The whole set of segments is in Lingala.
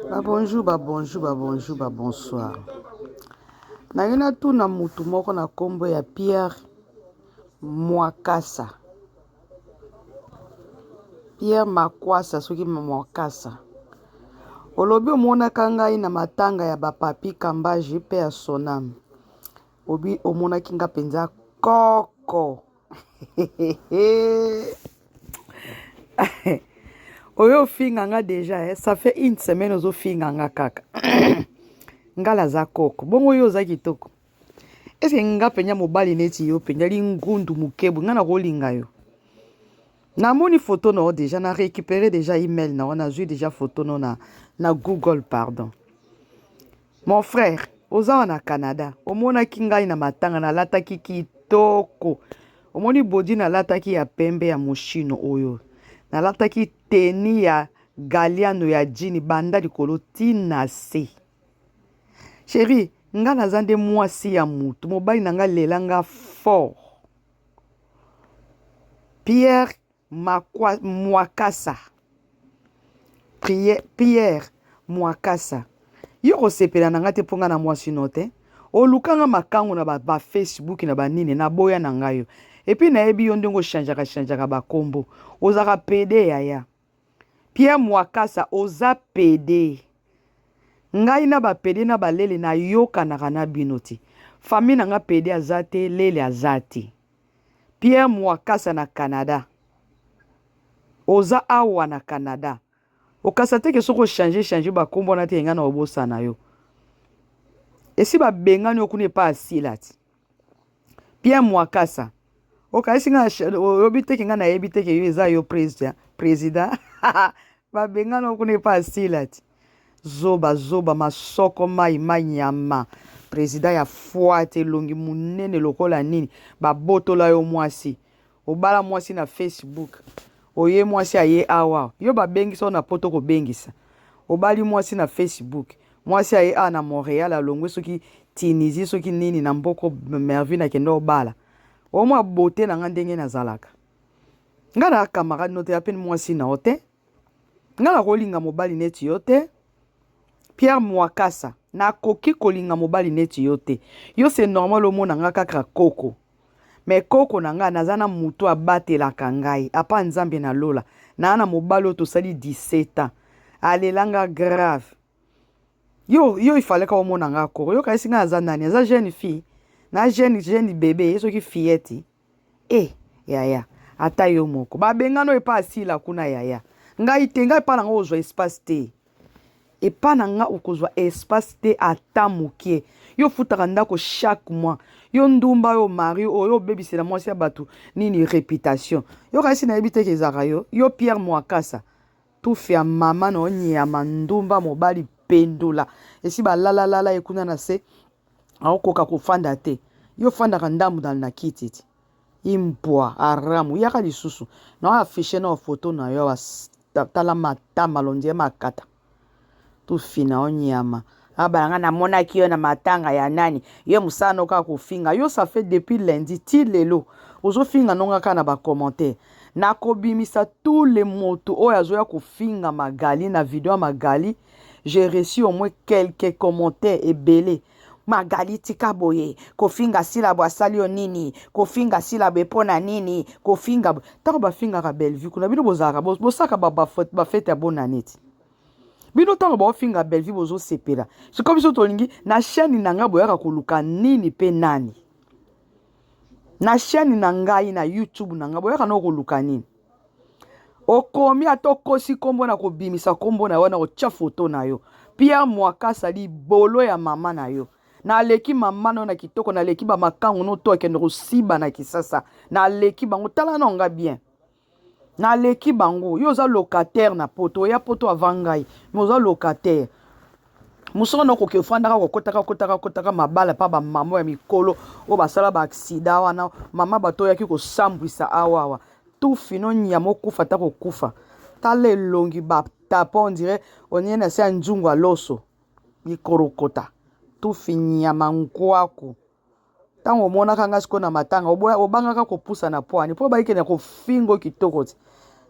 Ba bonjour, ba bonjour, ba bonjour, ba bonsoir. Naye natuna mutu moko na kombo ya Pierre Mwakasa. Pierre Makwasa soki Mwakasa. Olobi omonaka ngai na matanga ya bapapi Kambaji mpe ya Sonam. Obi omonaki nga mpenza koko. oyo ofinga nga deja eh? ça fait une semaine ozofinga nga kaka ngala aza koko bongo yo oza kitoko eske nga mpenza mobali neti yo mpenza lingundu mokebwe nga nakolinga yo namoni foto na yo deja na récupéré deja email na yo nazwi deja foto no na, na google pardon Mon frère, oza awa na Canada, omonaki ngai na matanga nalataki kitoko. Omoni body nalataki ya pembe ya moshino oyo. Nalataki teni ya galiano ya jini banda likolo ti na se. Chérie, nga naza nde mwasi ya mutu, mobali na nga lela nga fort. Pierre Makwa mwakasa prière pierre mwakasa yo kosepela na nga te mpo nga na mwasi no te oluka nga makangu na ba, ba facebook na banini na boya na nga yo epuis nayebi yo ndenge ochangeaka changeaka bakombo ozaka pede yaya pierre mwakasa oza pede ngai na bapede na balele nayokanaka na bino te famille na nga pede aza te lele aza te Pierre Mwakasa na Canada. Oza awa na Canada. Okasa te ke soki ochange change bakombo wana te engai na obosana yo. Esi babengani yo kuna epa asilati. Pierre Mwakasa. Okayisi nga oyobi te ke ngai nayebi te ke yo eza yo president. President. babengani yo kuna epa asilati. Zoba zoba masoko mayi mayi nyama president ya foite elongi munene lokola nini ba botola yo mwasi obala mwasi na Facebook oye mwasi aye awa yo ba bengisa yo na poto ko bengisa obali mwasi na Facebook mwasi aye awa na Montreal alongwe soki Tunisie soki nini na mboko Mervine akenda obala omwa beaute na nga ndenge nazalaka nga na camarade note ya peni mwasi na ote nga nakolinga mobali neti yo te Pierre Mwakasa nakoki kolinga mobali neti yo te yo c'est normal omona nga kaka koko me koko na ngai naza na moto abatelaka ngai apa nzambe na lola naa na mobali oyo tosali 17 ans alelanga grave yo yo ifalaka omona ngai koko yo kasi ngai aza nani aza jeune fille na jeune jeune bebe ye soki fillette Eh, yaya, ata yo moko. Ba bengano epa asila kuna yaya. Ngai te, ngai epa na nga ozwa espace te. Epa na nga okozwa espace te ata mokie. Yo futaka ndako chaque mois. Yo ndumba yo mari oyo obebisela mwasi ya bato nini reputation. Yo kasi na yebi te kezaka yo. Yo Pierre Mwakasa. Tufi ya mama na onyama ndumba mobali pendula. Esi balala lala ye kuna na se. akokoka kofanda te yo ofandaka ndambu na, na kiti ti imbwa aramu yaka lisusu na affiche na foto na yo awa tala matama londiye makata tofina yo nyama abala nga namonaki yo na matanga ya nani yo mosala no kaka kofinga yo ça fait depuis lundi ti lelo ozofinga nonga kaka na bacommentaire nakobimisa tout le moto oyo azoya kofinga magali na video ya magali j'ai reçu au moins quelques commentaires ebele magali tika boye kofinga silabo asali yo nini kofinga silabo epo na nini kofinga ntango bafingaka bellevue kuna bino bozalaka bosaka bafete ya bonane ti bino ntango baofinga bellevue bozosepela sikoyo biso tolingi na chaîne na ngai boyaka koluka nini mpe nani na chaîne na ngai na youtube na ngai boyaka nao koluka nini okomi ata okosi nkombo na kobimisa nkombo na yo na kotya foto na yo pierre mwakasa libolo ya mama na yo naleki mama na yo na kitoko naleki bamakango no to akende kosiba na kisasa naleki bango tala na nga bien naleki bango yo oza locataire na poto oya poto avant ngai me oza locataire mosoko na okoki ofandaka kokotaka kotaka kotaka mabala mpa bamama ya mikolo oyo basala baaksida wana mama bato oyaki kosambwisa awa awa tufi no nyama okufa ata kokufa tala elongi batapa ondire onie na se ya nzungu ya loso mikorokota tufi nyama nkwaku ntango omonaka nga sikoyo na matanga obangaka kopusana pwani mpo obayike na kofingo kitoko ti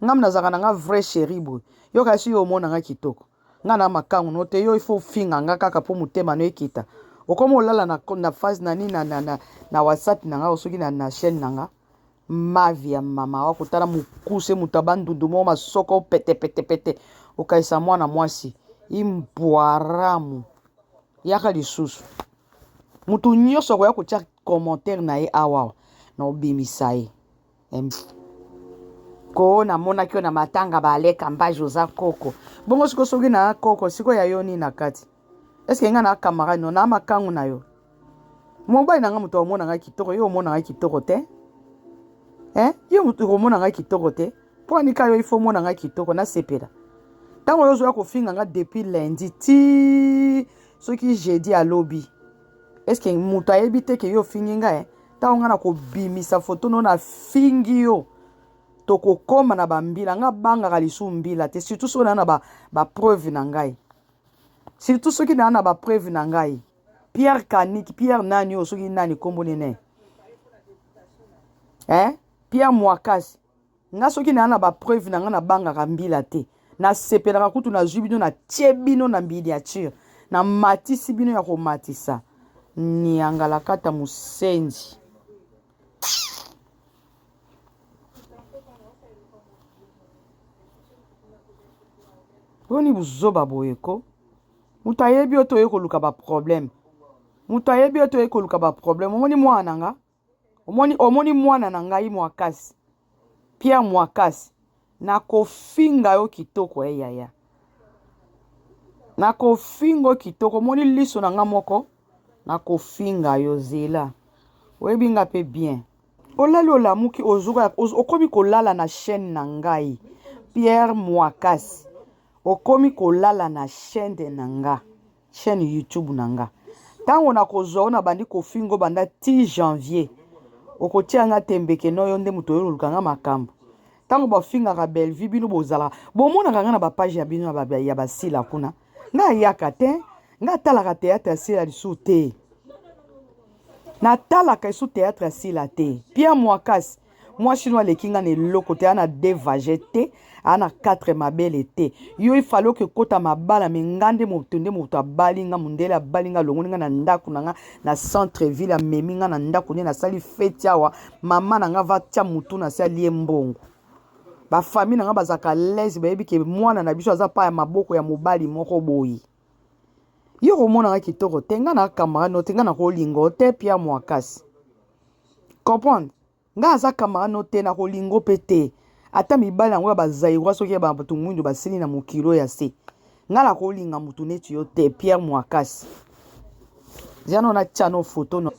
ngam nazalaka na nga vrai chéri boye yoka esi yo omonanga kitoko nga na makangu no te yo ifo ofinga nga kaka mpo motema no ekita okoma olala na, na phase na nini na, na, na, na whatsapp na nga soki na, na chaîne na nga mavi ya mama wa kotala mokuse moto abandundu moko masoko petepetepete okaisa mwana mwasi imbwaramu yaka lisusu Mutu nyoso akoya kotia commentaire na ye awa na obimisa ye. Ko namonaki yo na matanga ba aleka mbaji oza koko. Bongo siko soki na koko siko ya yo nini na kati? Est-ce que nga na camarade no na makangu na yo? Mobali na nga mutu omona nga kitoko yo omona nga kitoko te? Hein? Yo mutu omona nga kitoko te? Mpo anika yo il faut omona nga kitoko nasepela. Ntango yo ozoya kofinga nga depuis lundi ti soki jeudi ya lobi est ce que moto ayebi te ke yo ofingi ngai eh? ntango ngai nakobimisa foto no nafingi yo tokokoma na bambila ngai abangaka lisusu mbila te surtout soki naa na bapreuve ba na ngai surtout soki naa na bapreuve na ngai pierre kaniki pierre nani oyo soki nani nkombo nene eh? pierre mwakasi nga soki naa na ba preuve na nga na bangaka mbila te na sepelaka kutu na zui bino na tie bino na miniature na matisi bino ya komatisa niangalakata musenzi boni buzoba boye ko moto ayebi yo toye koluka baproblème moto ayebi yo toye koluka baproblème omoni mwana na nga Omoni, omoni mwana na ngai Mwakasi, Pierre Mwakasi, nakofinga yo kitoko eh yaya. Nakofinga yo kitoko, omoni liso na nga moko, nakofinga yo zela. Oyebi nga pe bien. Olali olamuki ozuka okomi kolala na chaîne na ngai. Pierre Mwakasi, okomi kolala na chaîne na nga. chaîne YouTube na nga tango na kozwa ona bandi kofingo banda ti janvier okotia nga tembe ke no yo nde moto oyo oluka nga makambo tango bafingaka Bellevue bino bozala bomonaka nga na ba page ya bino ya ba, ya basila kuna nga ayaka te nga atalaka théâtre ya sila lisusu te natalaka esu théâtre ya sila te Pierre Muakasi mwasi no aleki nga na eloko te ana devage te ana quatre mabele te yo ifale oke kota mabala me nga nde moto nde moto abali nga mondele abali nga alongoli nga na ndako na nga na centre ville amemi nga na ndako nde nasali feti awa mama na nga vatya motu na se alie mbongo bafamile na nga bazalaka lese bayebi ke mwana na biso aza pa ya maboko ya mobali moko boye yo komonaka kitoko te nga na camarade no te nga nakolingo te pierre moakasi comprendre nga aza camarade no te nakolingo mpe te ata mibali yango ya bazairwa soki ya bato mwindu basili na mokilo ya se nga nakolinga motu neti yo te pierre moakasi Jano na chano photo no.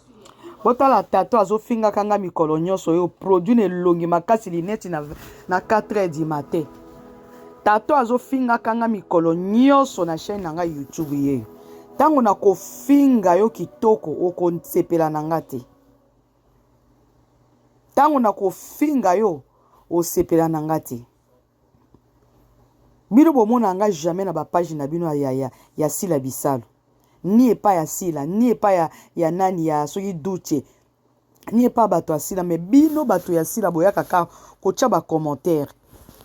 Botala tato azofinga kanga mikolo nyonso yo produit na elongi makasi lineti na, na 4 heures du matin. Tato azofinga kanga mikolo nyonso na chaîne na ngai YouTube yeyo. Ntango nakofinga yo kitoko okosepela na nga te. Ntango nakofinga yo osepela na nga te. Bino bomona nga jamais na ba page na bino ya ya ya sila bisalu ni epa ya sila ni epa ya ya nani ya soki duche ni epa bato ya sila mais bino bato ya sila boyaka ka kotia ba commentaire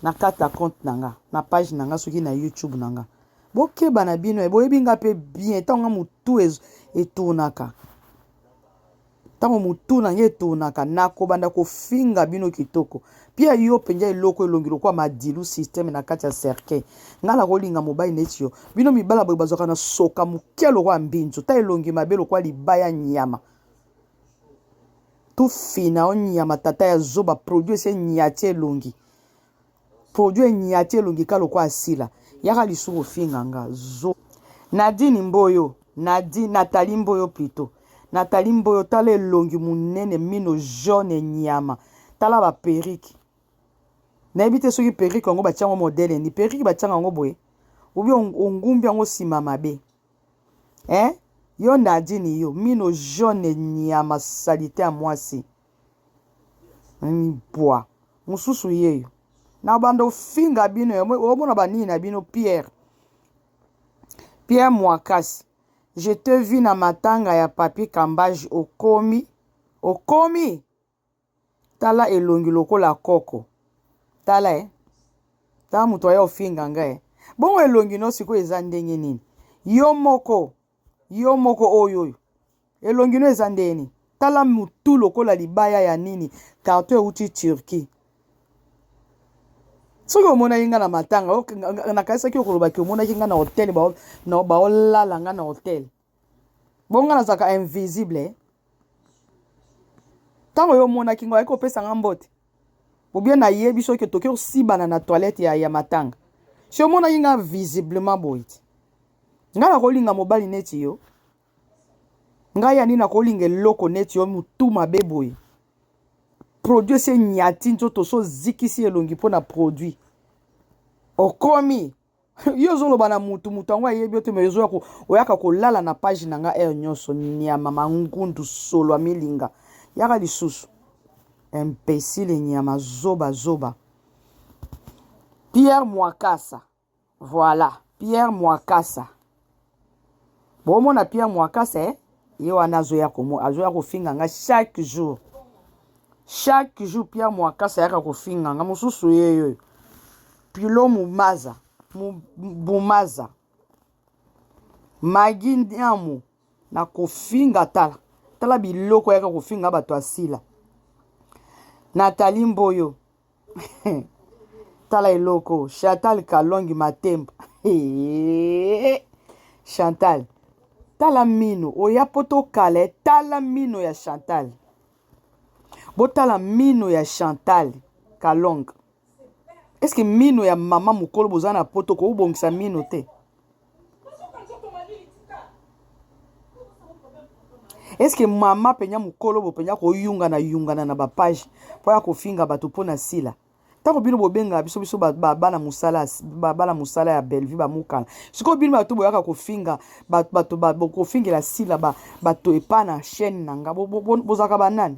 na kata compte na nga na page na nga soki na youtube na nga bokeba na bino e boyebi nga mpe bien ntango nga motu etournaka Ntango motu na ngai etonaka, nakobanda kofinga bino kitoko. Pierre yo penja eloko elongi lokola madilu systeme na kati ya cercueil. Ngai nakolinga mobali neti yo? Bino mibala boye bazwaka na soka moke lokola mbinzo ta elongi mabe lokola libaya nyama. Tufina yo nyama tata ya zoba produit esi enyati elongi. Produit enyati elongi kaka lokola asila. Yaka lisusu kofinga nga. Zo. Nadine mboyo. Nadine, Nathalie mboyo plutot. Nathalie mboyo tala elongi munene mino jaune nyama. Tala ba perruque. Nayebi te soki perruque yango batia yango modele ni perruque batia yango boye. Obi ongumbi yango sima mabe. Eh? Yo Nadine yo mino jaune nyama salite ya mwasi. mbwa mosusu yeyo na banda ofinga bino omona banini na bino pierre pierre mwakasi je te vi na matanga ya papi kambaji okomi okomi tala elongi lokola koko tala e eh. tala moto aya ofinga nga e eh. bongo elongi no sikoyo eza ndenge nini yo moko Yo moko oyo oyo. Elongi no eza ndeni. Tala mutu lokola libaya ya nini. Carton euti Turquie. soki omonaki ngai na matanga nakanisaki okolobaki omonaki ngai na hotel baolala ngai na hotel bongo ngai nazalaka invisible ntango yo omonaki ngai oyaki kopesa ngai mbote Ou bien na yebi soki otoki osibana na toilette ya, ya matanga. Si omonaki nga visiblement boye ti. Nga nakolinga mobali neti yo. Nga ya nini nakolinga eloko neti yo mutu mabe boye. Produit se nyati nzoto so zikisi elongi mpo na produit. Okomi yo ozoloba na mutu mutu yango ayebi yo te me ozoya oyaka kolala na page na nga heure nyonso nyama mangundu solo amilinga yaka lisusu imbecile nyama zoba zoba pierre mwakasa voilà pierre mwakasa Bo mona Pierre Muakasa eh ye wana azo ya ko azo ya ko finga nga chaque jour. Chaque jour Pierre Muakasa yaka ko finga nga mususu ye yo. Pilo Mumaza, Mumaza. Magi Ndiamu na ko finga tala. Tala biloko yaka ko finga bato asila. Nathalie Mboyo, tala eloko chantal kalongi matemba chantal tala mino oya mpo tokale tala mino ya chantal botala mino ya chantal kalonga eske mino ya mama mokolo boza na poto kobongisa mino te est ce que mama mpenza mokolo bo mpenza koyungana yungana na bapage mpo ya kofinga bato mpo na sila ntango bino bobengaka biso biso babana mosala babana mosala ya bellevue bamokana sikoyo bino bato boyaka kofinga bato kofingela sila bato epa na chaîne na nga bozalaka banani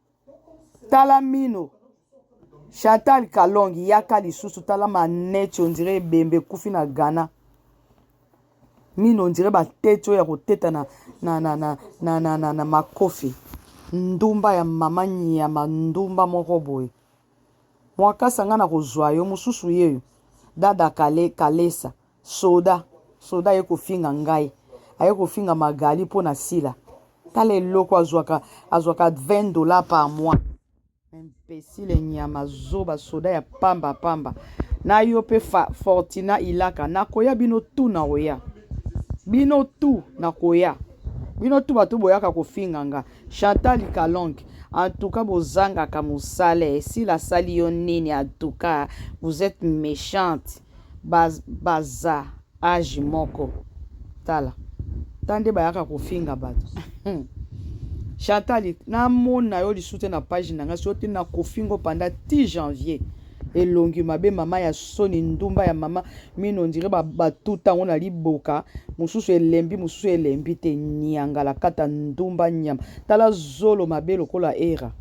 tala mino chantal kalongi yaka lisusu tala maneti ondire ebembe ekufi na ghana mino ondire bateti oyo ya koteta na, na, na, na, na, na, na, na makofi ndumba ya mama nyama ndumba moko boye mwakasa ngai nakozwa yo mosusu yeyo dada kale kalesa Soda soda aye kofinga ngai aye kofinga Magali mpo na Sila tala eloko azwaka azwaka 20 dollars par mois imbecile nyama zoba soda ya pamba pamba na yo mpe Fortina Ilaka nakoya bino tu nakoya bino tu nakoya bino tu bato boyaka kofinga nga Chantal Kalonge antuka bozangaka mosala esila asali yo nini antuka vous êtes méchante baza age moko tala ta nde bayaka kofinga bato Chantal namona yo lisusu te na page na ngai soki na kofingo panda ti janvier elongi mabe mama ya soni ndumba ya mama mino ondire batuta yango na liboka mosusu elembi mosusu elembi te niangala kata ndumba nyama tala zolo mabe lokola era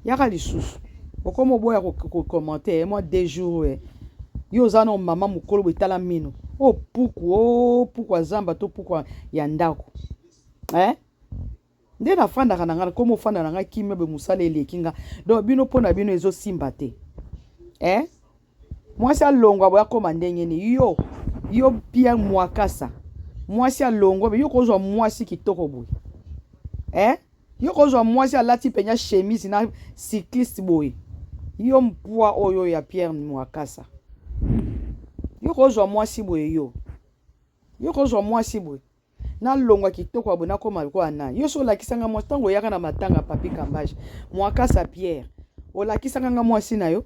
yaka lisusu okoma oboya kokomante eh, mwa deux jours eh. yo oza na mama mokolo boye tala mino o oh, puku o oh, puku ya zamba to puku ya ndako eh? nde nafandaka na ngai nakoma ofanda na ngai kimia boye mosala eleki ngai donc bino mpo na bino ezosimba te eh? mwasi alongwa boya koma ndenge ni yo yo Pierre Mwakasa mwasi alongwa yo kozwa mwasi kitoko boye eh yo kozwa mwasi alati penya chemise na cycliste boye yo mpwa oyo ya Pierre Mwakasa yo kozwa mwasi boye yo yo kozwa mwasi boye nalongwa kitoko ya boye nakoma lokola nani yo so olakisa nga mwasi ntango oyaka na matanga papi kambage mwakasa pierre olakisaka nga mwasi na yo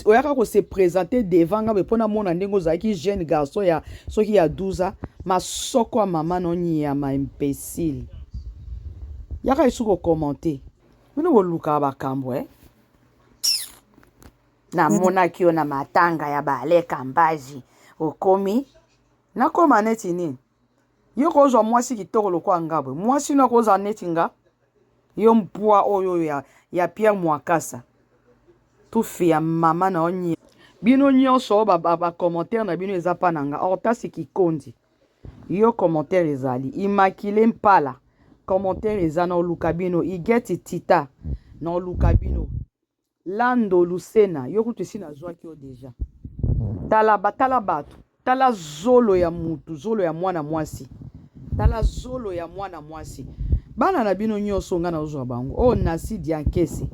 oyaka ko se présenter devant nga mpo namona ndenge ozalaki jeune garçon ya soki ya 12 ans masoko ya mama no nyama imbécile yaka esu kokommente bino bolukaka bakambo eh? namonaki yo na matanga ya bale kambaji okomi nakoma neti nini Yo kozwa mwasi kitoko lokola nga boye, mwasi no akozala neti nga? Yo mpwa oyo ya, ya Pierre Mwakasa, tufi ya mama na onye. Bino nyonso ba, ba, ba commentaire na bino eza pa na nga. Hortasi Kikondi, yo commentaire ezali. Immaculée Mpala, commentaire eza na oluka bino. Igeti Tita, na oluka bino. Lando Lusena yo kutu esi nazwaki yo deja. Tala ba tala batu. Tala zolo ya mutu, zolo ya mwana mwasi. Tala zolo ya mwana mwasi. Bana na bino nyoso nga nazozwa bango. Oh Nasi Diankese.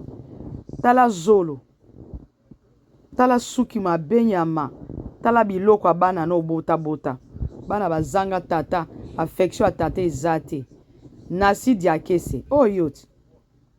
Tala zolo. Tala suki mabe nyama. Tala biloko ya bana no bota bota. Bana bazanga tata, affection ya tata eza te. Nasi Diakese. Oh yoti.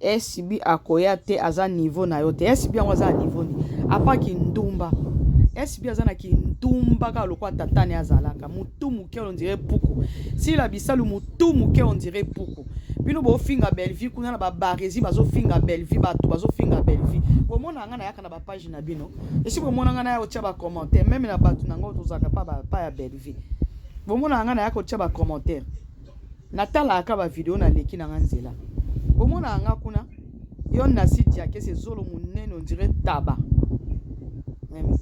SB akoya te aza niveau na yo te. SB yango aza na niveau ni. Apa kindumba. SB aza na kindumba kaka lokola tata ne azalaka. Mutu muke on dirait puku. Sila bisalu mutu muke on dirait puku. Bino bo finga Bellevue kuna na ba barezi bazo finga Bellevue batu bazo finga Bellevue. Bo mona nga na yaka na ba page na bino. Esi bo mona nga na ya otia ba commentaire même na batu na ngo tozaka pa ba pa ya Bellevue. Bo mona nga na yaka otia ba commentaire. natalaka ba video na leki na nga nzela bomona nga kuna yo na site ya kese zolo munene on dirait taba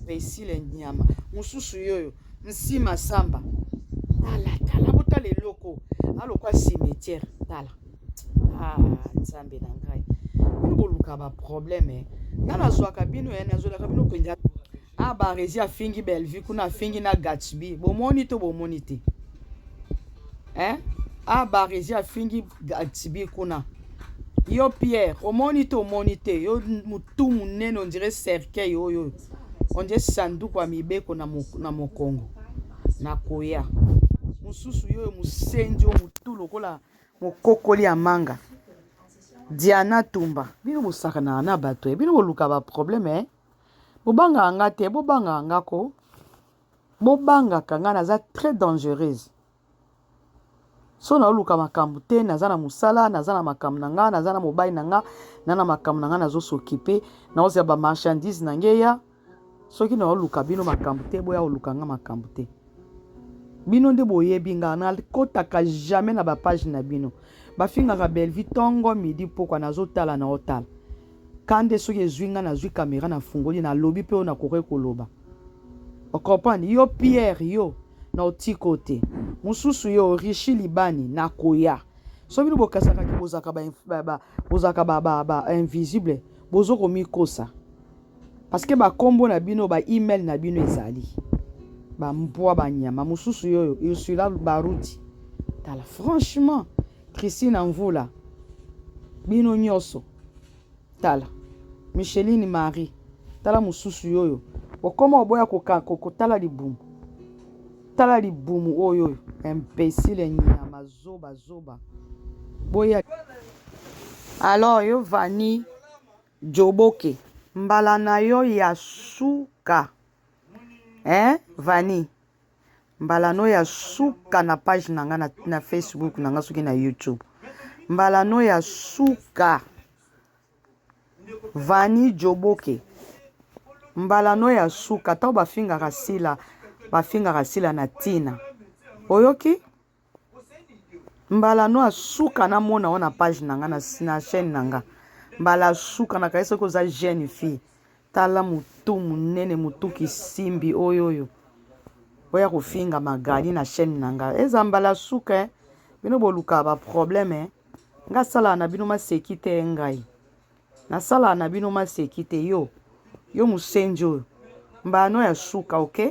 imbecile nyama mosusu yoyo nsima samba tala tala botala eloko alokwa cimetière tala ah, nzambe na ngai bino boluka baproblème eh. nga nazwaka bino ya eh, nazwelaka bino mpenza Ah Barezi afingi Bellevue kuna afingi na Gatsby. Bomoni to bomoni te. Hein? Ah Barezi afingi Gatsby kuna. Yo Pierre, omoni to omoni te. Yo mutu munene on dirait cercueil oyo. On dirait sanduku ya mibeko na, mo, na mokongo. Na koya. Mususu yo musenzi yo mutu lokola mokokoli ya manga. Diana Tumba. Bino bosaka na na bato. Eh? Bino boluka ba problème eh? Bobangaka nga te bobangaka nga ko bobangaka nga naza très dangereuse so na oluka makambo te naza na mosala naza na makambo na nga naza na mobali na nga na na makambo na nga nazo s'occuper na ozela ba marchandise na nge ya soki na oluka bino makambo te boya oluka nga makambo te bino nde boyebi nga nakotaka jamais na ba page na bino bafingaka Bellevue tongo midi pokwa nazotala na otala Kande soki ezui nga nazui camera na fungoli na lobi pe oyo na kokaki koloba o comprendre yo Pierre yo na otiko te mususu yo rishi libani na koya so bino bokasaka ki bozaka ba, ba, ba bozaka ba, ba, ba invisible bozo komikosa parce que ba kombo na bino ba email na bino ezali ba mbwa ba nyama mususu yo yo Ursula Baruti tala franchement Christine Mvula bino nyoso tala micheline marie tala mosusu yoyo okoma oboya kotala libumu tala libumu oyo oyo imbesile nyama zoba zoba boya alors yo vani joboke mbala na yo ya suka eh vani Mbala no ya suka na page na nga na, na Facebook na nga soki na YouTube. Mbala no ya suka. Vani Joboke. Mbala no ya suka. Tango bafingaka Sila, bafingaka Sila na Tina. Oyoki? mbala no asuka na mona wana page na nga na chaîne na nga mbala asuka na kaisa koza jeune fille tala mutu munene mutu kisimbi oyo oyo oya kofinga magali na chaîne na nga eza mbala suka eh? bino boluka ba problème eh? nga sala na bino maseki te eh, ngai nasala na bino maseki te yo yo musenji oyo mbano ya suka oke okay?